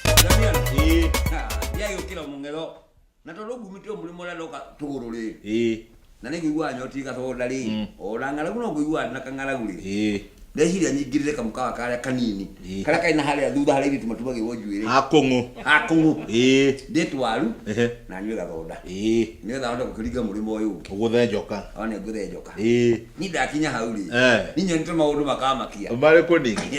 Ndamiana. Eh. Ha, ya yo kila mungelo. Na to logu mito muri mola loka tuguru le. Eh. Na ne gwa nyoti ka so dali. Mm. O la ngala kuno gwa na kangala guli. Eh. Ndeciria nyingirire kamukawa karia kanini Eh. karia kaina haria thutha haria ithuĩ tũmatuma gĩgwo njuĩrĩ Akũng'ũ. akũng'ũ Eh. ndĩ twaru Ehe. na nyuĩ gathoda Eh. nĩgetha hote gũkĩringa mũrĩmo ũyũ ũngĩ Ũgũthe njoka. one ngũthe njoka Eh. ni ndakinya hau rĩ Eh. ni nyonete maũndũ makamakia Marĩ kũningi.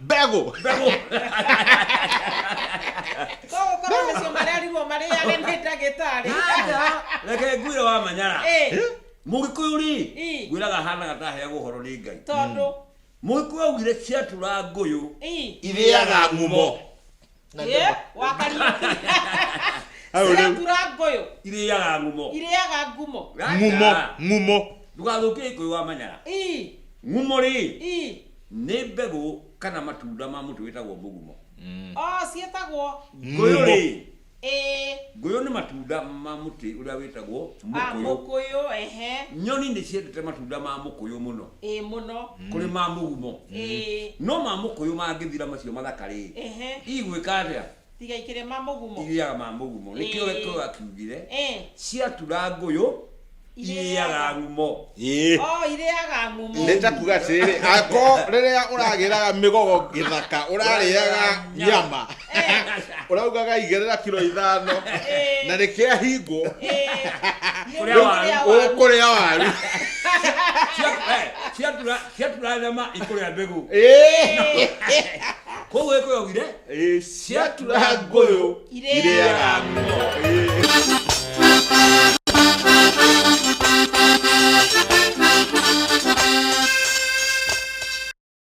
mbegũ mbegũ koguo korwo nĩcio marerirwo marĩage nĩ ndagĩtarĩ Aja, reke ngwire wa manyara Ĩ, mũgĩkũyũ rĩ Ĩ. ngwĩraga hanaga ndaheagwo ũhoro nĩ ngai tondũ mũgĩkũyũ augire ciatura ngũyũ ĩ, irĩaga ngumo Na Ĩ, ndũma. wa Kariuki. Hau rĩu. Cirakura ngũyũ irĩaga ngumo irĩaga ngumo Ngumo, ngumo. ndũgathũkie ikũyũ wa manyara Ii, ngumo rĩ ii. nĩ mbegũ kana matunda ma mũtĩ wĩtagwo mũgumo o ciĩtagwo ngũyũ Ngumo. rĩ ĩĩ ngũyũ nĩ matunda ma mũtĩ ũrĩa wĩtagwo a mũkũyũ mũkũyũ ehe nyoni nĩ ciendete matunda ma mũkũyũ mũno ĩ mũno kũrĩ ma mũgumo ĩ no ma mũkũyũ mangĩthira macio mathaka rĩ ehe igwĩka atĩa tiga ikĩrĩ ma mũgumo irĩaga ma mũgumo Ĩĩ. nĩkĩo gĩkũyũ akiugire ĩ ciatura ngũyũ irĩaga ngumo Ĩĩ. o irĩaga ngumo nĩ ta kuga atĩrĩrĩ ako rĩrĩa ũragĩraga mĩgogo gĩthaka ũrarĩaga nyama uraugaga igerera kiro ithano na rä kä ahingwo Kũrĩa waru. kå rä a waru ciaturarema ikũrĩa mbĩgũ Ĩĩ. koguo ĩkũyogire Ĩĩ, ciatura ngũyũ irĩaga ng'o